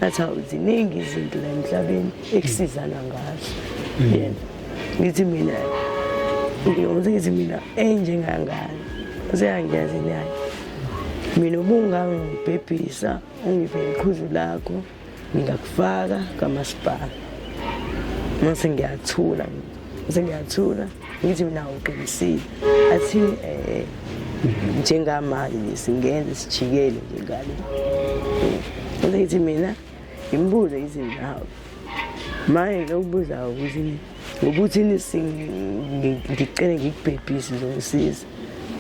ngathi hawu ziningi izinto la emhlabeni ekusizana ngazo mm. yena ngithi mina ngiyoze ngithi mina enjengangane useyangiyazi naye mina ubungangibhebhisa ungiphe iqhuzu lakho ngingakufaka kamasipala mase ngiyathula mase ngiyathula ngithi mina uqinisile athi um eh, njengamanje nje singenze sijikele nje ngale bese ngithi mina ngimbuze ithi nawe manje lokubuza ukuthi ngokuthini ngicele ngikubhebhise zongisiza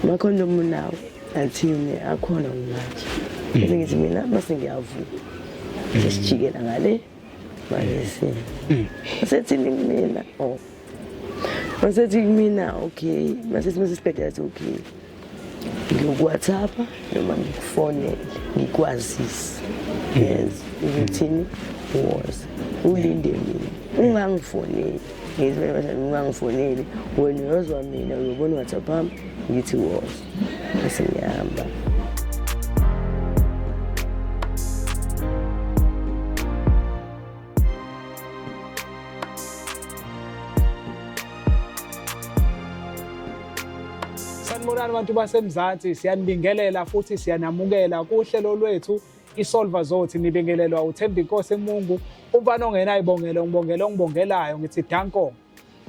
makhona omunye nawe athini akhona ngimanje bese ngithi mina bese ngiyavuma sesijikela ngale bayese mm. wasethi mina oh wasethi kumina okay masethi masesibhedela athi okay ngiyokuwhatsappa noma ngikufonele ngikwazise mm. yes ukuthini was ulinde mina ungangifoneli ngizibeaungangifoneli wena uyozwa mina uyobona uwhatsappa wami ngithi was Bese ngiyahamba. Sanibonani bantu baseMzansi, siyanibingelela futhi siyanamukela kuhlelo lwethu isolva zothi nibingelelwa uthembi inkosi emungu umfana ongenayibongelo ngibongela ongibongelayo ngithi danko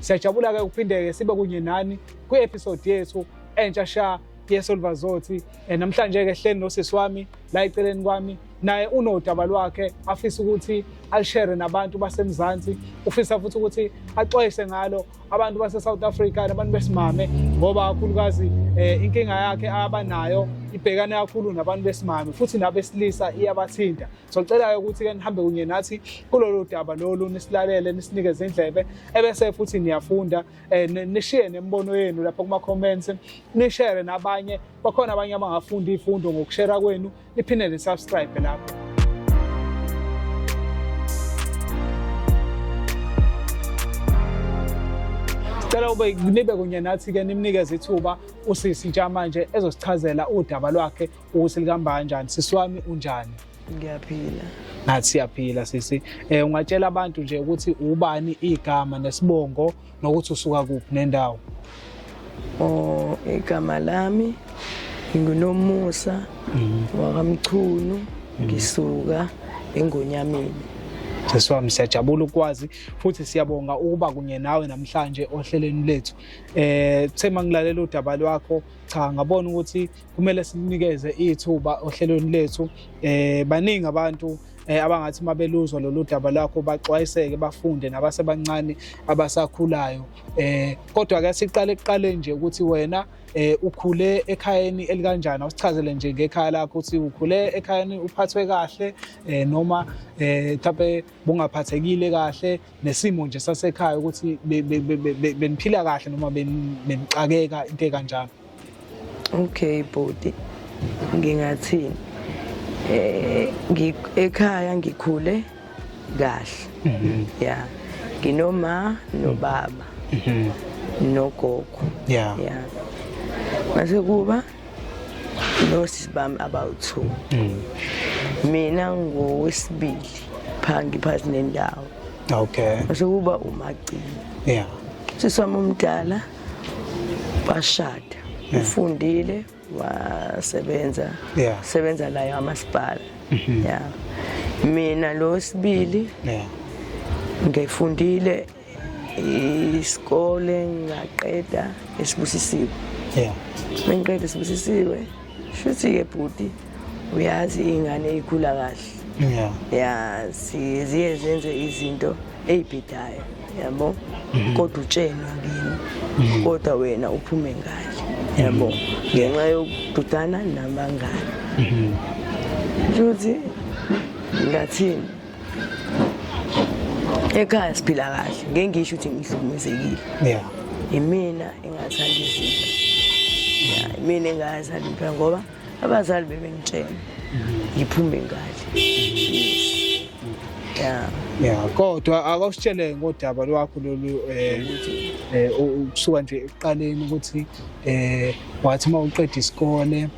Siyajabula-ke ukuphinde-ke sibe kunye nani kwi-episode yethu entsha sha yeSolvazothi. Eh, namhlanje-ke hleni nosisi wami la eceleni kwami naye unodaba lwakhe afisa ukuthi alishere nabantu basemzansi ufisa futhi ukuthi axwayise ngalo abantu base-south africa nabantu besimame ngoba kakhulukazi um eh, inkinga yakhe abanayo ibhekane kakhulu nabantu besimame futhi nabesilisa iyabathinta Socela-ke ukuthi-ke nihambe kunye nathi kulolu daba lolu nisilalele nisinikeze indlebe ebese futhi niyafunda eh, nishiye nemibono yenu lapho kuma-comments nishere nabanye bakhona abanye abangafunda iy'fundo ngokushera kwenu niphinde nisubscribe lapho Cela ube nibe kunye nathi ke nimnikeze ithuba usisi ntsha manje ezosichazela udaba lwakhe Uthi lihamba kanjani? Sisi wami unjani? Ngiyaphila. Ngathi siyaphila sisi. Eh ungatshela abantu nje ukuthi ubani igama nesibongo nokuthi usuka kuphi nendawo. Oh igama lami ngingunomusa mhm. wakamchunu mhm. ngisuka engonyameni. Sisi wami siyajabula ukwazi futhi siyabonga ukuba kunye nawe namhlanje ohlelweni lethu. Eh thema ngilalela udaba lwakho cha ngabona ukuthi kumele sinikeze ithuba ohlelweni lethu eh baningi abantu eh, abangathi uma beluzwa lolu daba lwakho baxwayiseke bafunde nabasebancane abasakhulayo eh kodwa ke siqale kuqale nje ukuthi wena eh ukhule ekhayeni elikanjani awusichazele nje ngekhaya lakho ukuthi ukhule ekhayeni uphathwe kahle eh noma eh mhlawumbe bungaphathekile kahle nesimo nje sasekhaya ukuthi beniphila kahle noma benixakeka into ekanjalo okay bhuti ngingathini eh ekhaya ngikhule kahle mhm. ya nginoma nobaba mhm. nogogo ya mase kuba nosisi bami abawu-two mm. mina ngowesibili phaa ngiphathi nendawo okay sekuba umagcini yeah sisi wami omdala washada ufundile wasebenza yeah. sebenza layo amasipala mm -hmm. yeah. mina lo sibili yeah. ngifundile isikole ngaqeda esibusisiwe yeah mengiqeda esibusisiwe shuthi ke bhuti uyazi ingane ikhula kahle yeah yeah siye zenze izinto eyibhidayo yabo mhm. kodwa utshena kimi mhm. kodwa wena uphume ngale yabo mhm. ngenxa yokududana nabangane shuthi ngathini ekhaya siphila kahle ngeke ngisho ukuthi ngihlukumezekile yeah imina engathanda izinto yeah imina engathanda impela ngoba abazali bebengitshela ngiphume ngale yeah yeah kodwa akawusitshele ngodaba lwakho lolu eh, eh ukusuka nje eqaleni ukuthi eh wathi uma uqeda isikole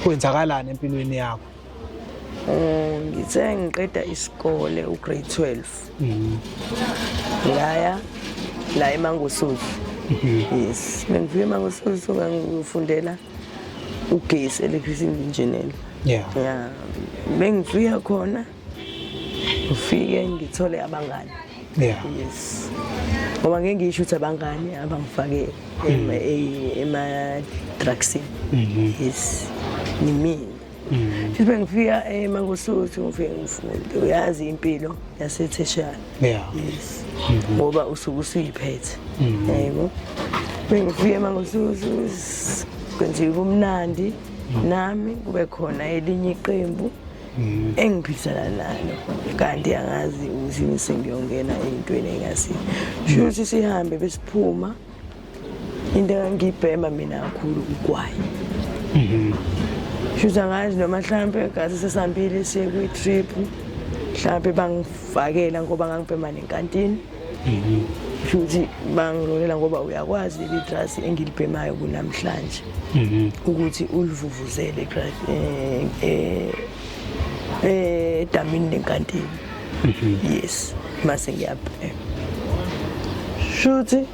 kwenzakalani empilweni yakho Um, ngithe ngiqeda isikole ugrade 12 mhm. ngaya la emangosuzu mhm. yes bengifike emangosuzu ngangifundela ugesi electricity engineer yeah yeah bengifika khona ngifike ngithole abangani yeah yes ngoba ngeke ngisho ukuthi abangani abangifake mhm. ema-drugsini yes nimini Mm. Futhi bengifika eMangosuthu eh, ngifike ngifunde uyazi impilo yasetheshana. Yeah. Yes. Mm-hmm. Ngoba usuke usuyiphethe. Mm-hmm. Yebo. Bengifika eMangosuthu kwenziwe kumnandi mm. nami kube khona elinye iqembu. Mm. engiphikisana nalo kanti angazi ukuthi sengiyongena ey'ntweni engasiyo shuthi sihambe besiphuma into engangiyibhema mina kakhulu kugwayi mhm. shuthi angazi noma mhlawumpe gazi sesambile siye kwi-trip mhlawumpe bangifakela ngoba ngangibhema nenkantini mhm. shuthi bangilolela ngoba uyakwazi leli drasi engilibhemayo kunamhlanje mhm. ukuthi ulivuvuzele eh, eh, eh, edamini lenkantini yes mase ngiyabhema shuthi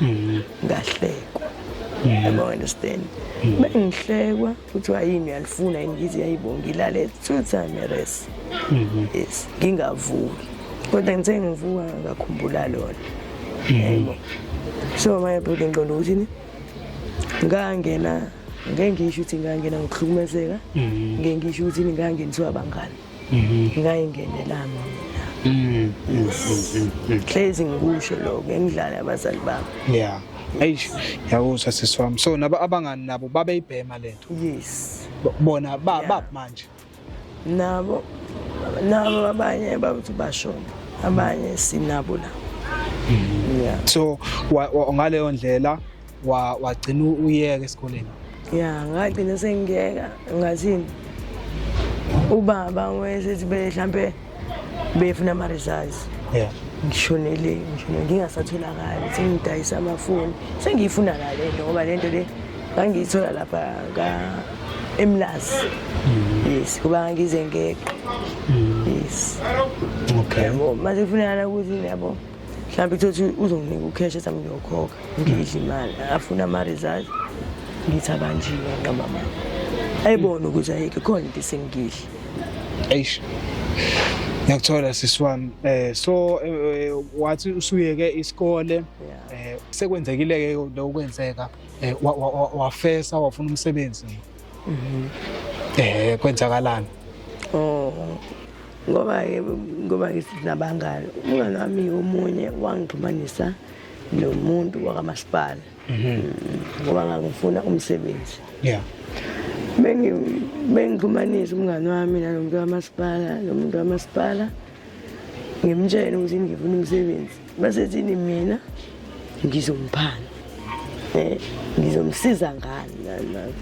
mm. ngahlekwa yabo mm. understand mm. bengihlekwa kuthiwa yini uyalifuna yini ngithi yayibonga ngilale two time res mm-hmm. yes ngingavuki kodwa ngithe ngivuka ngakhumbula lona mm-hmm. yebo so my brother ngiqonda ukuthi ni ngangena ngeke ngisho ukuthi ngangena ngokuhlukumezeka mm-hmm. ngeke ngisho ukuthi ngangena ngiswa abangani mhm. ngayingenelanga mhm. hlezi ngikusho lokho engidlala abazali bami yeah eish yawuza sisi wami so nabo abangani nabo babeyibhema lento yes bona ba yeah. manje nabo nabo abanye babuthi bashona abanye sinabo la mhm. yeah so ngaleyo ndlela wa wagcina uyeka esikoleni ya ngagcina sengiyeka ngathini ubaba ngiwesethi be mhlampe befuna ama results yeah ngishonele ngishonele ngingasatholakali sengidayisa amafoni sengiyifuna la le nto ngoba le nto le ngangiyithola lapha ka emlazi mm. yes kuba ngize ngeqe mm. yes okay yabo mase kufunakala ukuthi yabo mhlawumbe kuthothi uzonginika ukheshe sami ngiyokhokha ngidle imali afuna ama-results ngithi abanjiwe nqamama ayibone ukuthi ayike khona into esengidle eish ngiyakuthola sisi wami um so eh, wathi usuyeke isikole um sekwenzekile-ke loku kwenzeka um wafesa wafuna umsebenzi Mhm. Eh kwenzakalani? Oh. Ngoba ke ngoba ke sinabangani. Umngane wami omunye wangixhumanisa nomuntu wakamasipala. Mhm. Mm, ngoba ngangifuna umsebenzi. Yeah. Bengi bengixhumanisa umngane wami nalomuntu wakamasipala, nomuntu wakamasipala. ngimtshele ukuthi ngifuna umsebenzi basethini mina ngizomphana um eh, ngizomsiza ngani ngani nami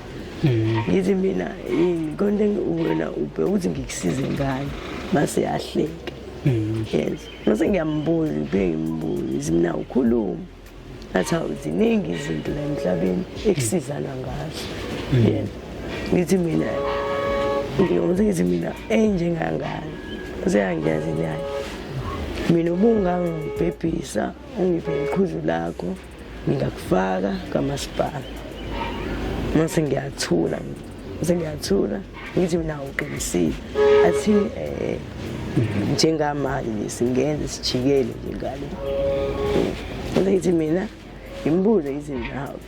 mm. ngithi mina yini konke wena ubhe ukuthi ngikusize ngani mase yahleka mm. yes mase ngiyambuza ubhe ngimbuza mina ukhuluma That's how ziningi izinto la emhlabeni ekusizana ngazo. Mm. Yeah. Ngithi mina ngiyoze ngithi mina enjengangani. Useyangiyazi naye. Mina ubungangibhebhisa ungiphe iqhuzu lakho ngingakufaka kamasipala. Mase ngiyathula. Mase ngiyathula. ngithi mina uqinisile athi um eh, njengamanje nje singenze sijikele nje ngale kodwa ngithi mina ngimbuze ngithi nawe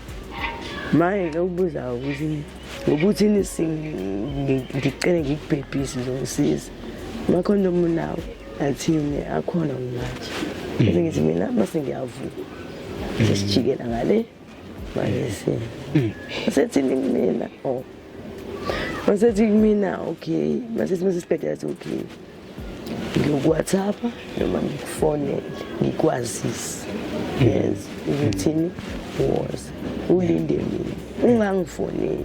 manje ke ukubuza ukuthi ngokuthi ngicele ngikubhebhise zongisiza makhona omunawo athini akhona ngimanje bese ngithi mina bese ngiyavuka sesijikela ngale wayese mm. wasethini kumina oh wasethi kumina okay masethi masesibhedlela athi okay ngikuwhatsappa noma ngikufonele ngikwazise mm. yes ukuthini was ulinde mina ungangifoneli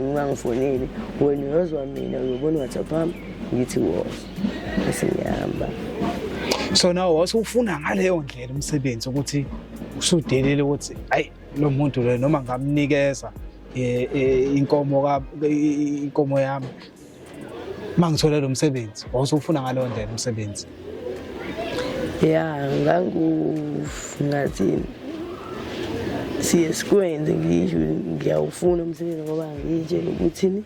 ungangifoneli wena uyozwa mina uyobona uwhatsapp wami ngithi was esengihamba so nawe wase ufuna ngaleyo ndlela umsebenzi ukuthi usudelile ukuthi ayi lo muntu lo noma ngamnikeza eh, eh, inkomo ka inkomo yami mangithola lo msebenzi wawusufuna ngalo ndlela umsebenzi ya ngangu ngathi siye sikwenze ngisho ngiyawufuna umsebenzi ngoba ngitshela ukuthini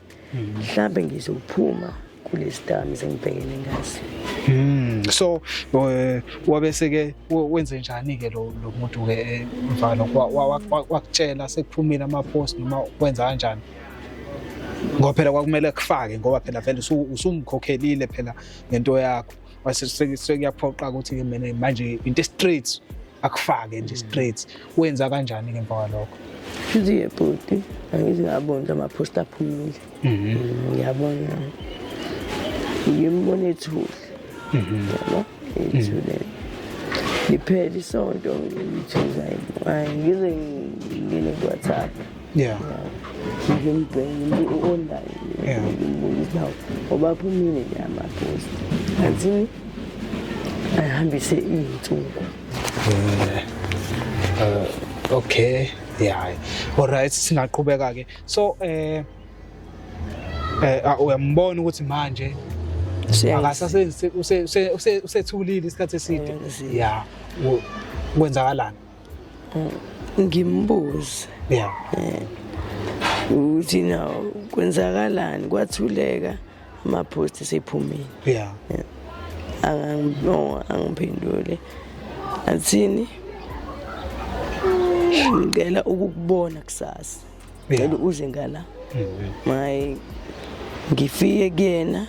mhlawumbe ngizophuma kulesdams engibhekene ngaso Mm, so eh, wabese ke wenze njani ke lo muntu ke eh, mfana wakutshela sekuphumile ama post noma wenza kanjani ngoba phela kwakumele kufake ngoba phela vele usumkhokhelile phela ngento yakho mase sekuyaphoqa ukuthi ke mina manje into straight akufake nje straight wenza kanjani ke emva kwalokho Siziye bhuti angithi ngabona ama post aphumile mhm. mm, ngiyabona ngimbona ethule mhm. yabo ethule liphele isonto ngithi hayi ngize ngingene ku-whatsapp yeah nje mbheke u-online yeah ngimbuza hawu ngoba phumile nje amapost athi ayihambise iy'nsuku uh, okay yeah alright singaqhubeka ke so eh eh ah, uyambona ukuthi manje akasasenzi usethulile isikhathi eside yeah kwenzakalani ngimbuze yeah. Eh, ukuthi na kwenzakalani kwathuleka amaphosti sephumile yeah. yeah. angiphendule athini ngicela ukukubona kusasa ngicela uze ngala mm-hmm. maye ngifike kuyena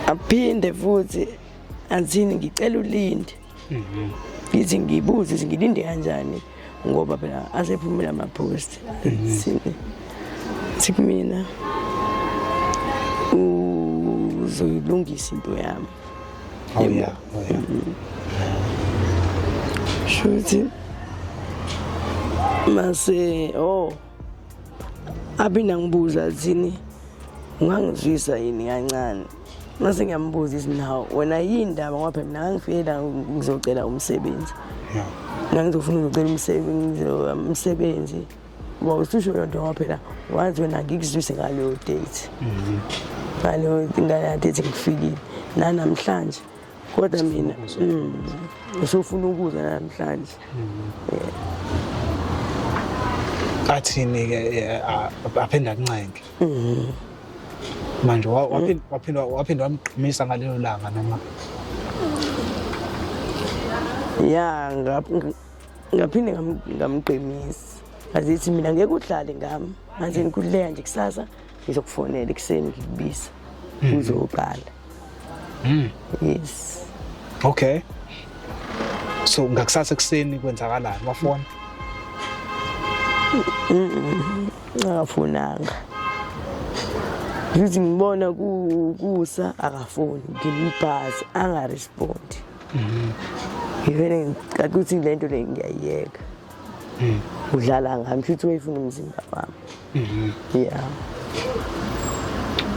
aphinde futhi anzini ngicela ulinde Mhm. Ngithi ngibuze ukuthi ngilinde kanjani ngoba phela asephumile ama-post mhm. thi kumina uzoyilungisa into yami oh, yeah. Oh, yeah. Mhm. shuthi mase oh aphinde angibuza athini ungangizwisa yini kancane ngase ngiyambuza ithi naw wena yini ndaba ngoba phela mina ngangifike la ngizocela umsebenzi ngangizofuna uzocela umsebenzi umsebenzi uba ususho loo nto ngoba phela wazi wena ngikuzwise ngaleyo date ngaleyo ngaleyo date ngifikile nanamhlanje kodwa mina mm, usufuna ukudla namhlanje athini-ke eh, a- aphinde akuncenke manje wa- waphin- waphinde waphinde wamgqumisa ngalelo langa noma ya nga- nga- ngaphinde ngam- ngamqinisa ngazithi mina ngeke udlale ngami manje ngikhululeka nje kusasa ngizokufonela ekuseni ngikubiza hmm. uzoqala hmm. yes okay so ngakusasa ekuseni kwenzakalani wafona akafonanga ngithi ngibona kusa akafoni ngimubhazi angarespondi hmm. ngivele ngicaca ukuthi le nto le ngiyayiyeka mm. udlala ngami futhi wayefuna umzimba wami mm-hmm. yeah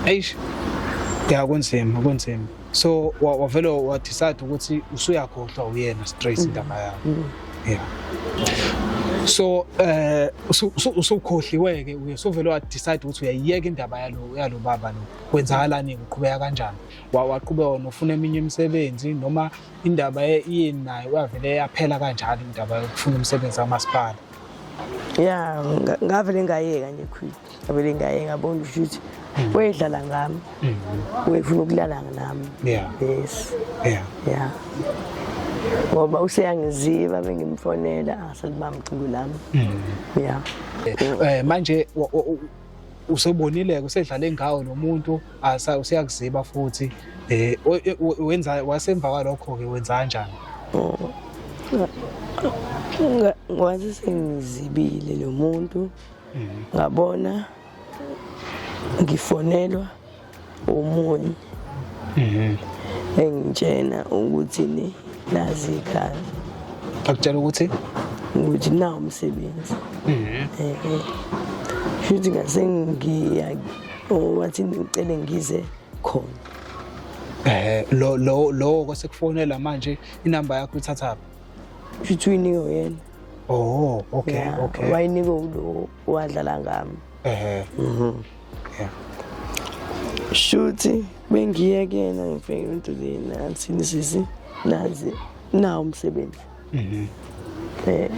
eish ya kunzima kunzima so wavele wadecide ukuthi usuyakhohlwa uyena straight mm. indaba yakho mm. yeah so eh usukhohliwe ke uye sovele wa decide ukuthi uyayiyeka indaba yalo yalo baba lo kwenzakalani uqhubeka kanjani waqhubeka nofuna eminye imisebenzi noma indaba yini nayo uyavele yaphela kanjalo indaba yokufuna umsebenzi kamasipala ya ngavele ngayeka nje khwili ngavele ngayeka ngabona ukuthi mm. wayedlala ngami mm. wayefuna ukulala nami yes ya yeah. ngoba useyangiziva bengimfonela asalibamculu lami mm. ya eh, manje usebonile-ke usedlale ngawo lo muntu useyakuziba futhi um wenza wasemva kwalokho-ke wenza kanjani ngwazi sengizibile lo muntu ngabona ngifonelwa umunye mhm. engitshena ukuthi ni nazi ikhaya akutshela ukuthi ukuthi na umsebenzi mhm. eh, eh. futhi ngase ngiya wathi ngicele ngize khona eh lo lo lo kwasekufonela manje inamba yakho ithathaphi futhi uyinike yena oh okay okay wayinike ulo wadlala ngami ehe mhm shuthi bengiyekena ngifike into le nansi nisisi nazi nawo umsebenzi mhm eh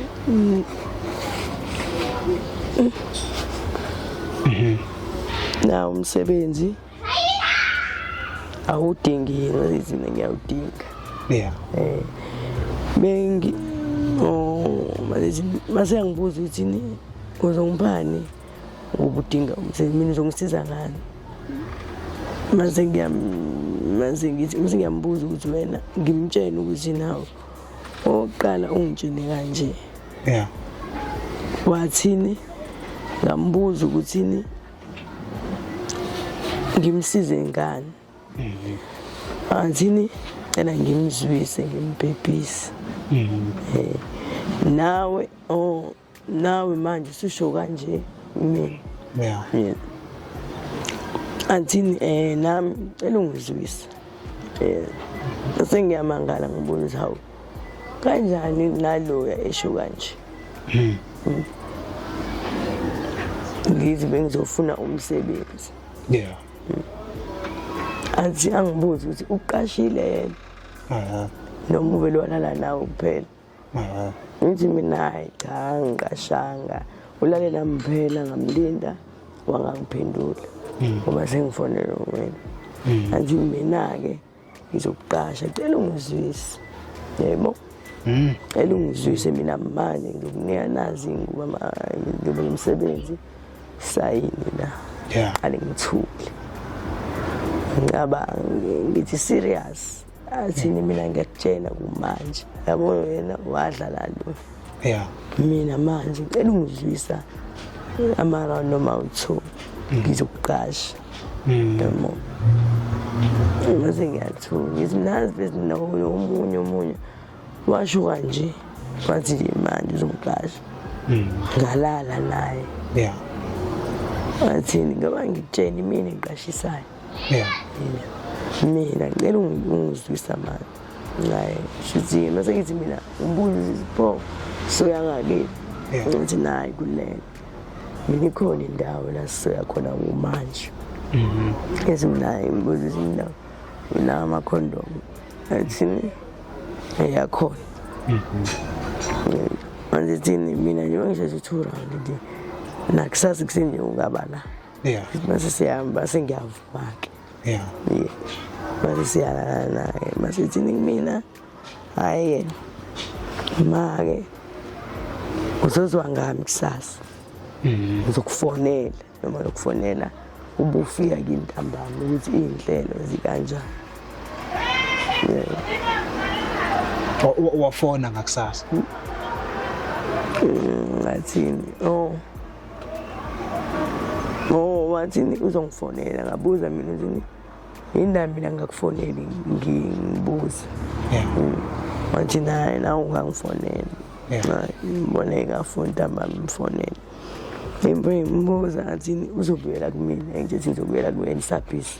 mhm nawo umsebenzi awudingi yena izina ngiyawudinga yeah eh bengi oh manje masengibuza ukuthi ni uzongibani ukuba udinga umsebenzi mina uzongisiza ngani mase mase ngithi mase ngiyambuza ukuthi wena ngimtshene ukuthi nawe oqala ungitshene kanje yeah wathini ngambuza ukuthini ngimsize ngani mhm. athini cela ngimzwise ngimbhebhise mhm. eh, nawe oh nawe manje usisho kanje mina yeah. yeah. anthini eh nami ngicela ungizwise eh sengiyamangala ngibona ukuthi hawu kanjani naloya esho kanje hmm. hmm. ngithi bengizofuna umsebenzi yeah hmm. athi angibuze ukuthi uqashile yena noma uvele walala nawe kuphela ngithi mina hayi cha ngiqashanga ulale nami phela ngamlinda wangangiphendula hmm. ngoba sengifonele wena hmm. angithi mina-ke ngizokuqasha cela ungizwise yebo hmm. cela ungizwise mina manje ngizokunika nazi ngoba ngiyobe ngimsebenzi sayini la qale ngithule ngicabanga ngithi serious athini mina ngiyakutshela kumanje yabo wena wadlala lo ya mina manje ngicela ungidlisa ama-round noma u-two mm. ngizokuqasha mm. yabo ngaze ngiyathuka ngithi nazi bezinoyo omunye omunye washo kanje wathi manje uzomqasha mm. ngalala naye ya athini ngoba ngikutsheni mina ngiqashisayo mina mina ngicela ungizwisa manje ngaye shizini mase ngithi mina umbuzo sipho soya ngakithi ngithi nayi kulena mina ikhona indawo la sisoya khona kumanje mm-hmm. ezimnaye imbuzo izindawo unawo amakhondomu athini eyakhona mm-hmm. manje thini mina njengoba ngisheshe two round nje nakusasa kusenje ungaba la yeah mase siyahamba sengiyavuma-ke yeah yeah mase siyalala naye mase thini kumina hhayi-ke ma-ke uzozwa ngami kusasa mm-hmm. ngizokufonela noma lokufonela ubufika kimi ntambama ukuthi iy'nhlelo zikanjani wafona ngakusasa ngathini o oh. Oh wathini uzongifonela ngabuza mina ukuthi yini mina ngakufoneli ngibuza. Yeah. Mm. Wathi naye na ungangifonela. Yeah. Ngibone ngafuna ntamba mfonela. Imbuza athini uzobuyela kumina ngithi ngizobuyela kuwena isabhisi.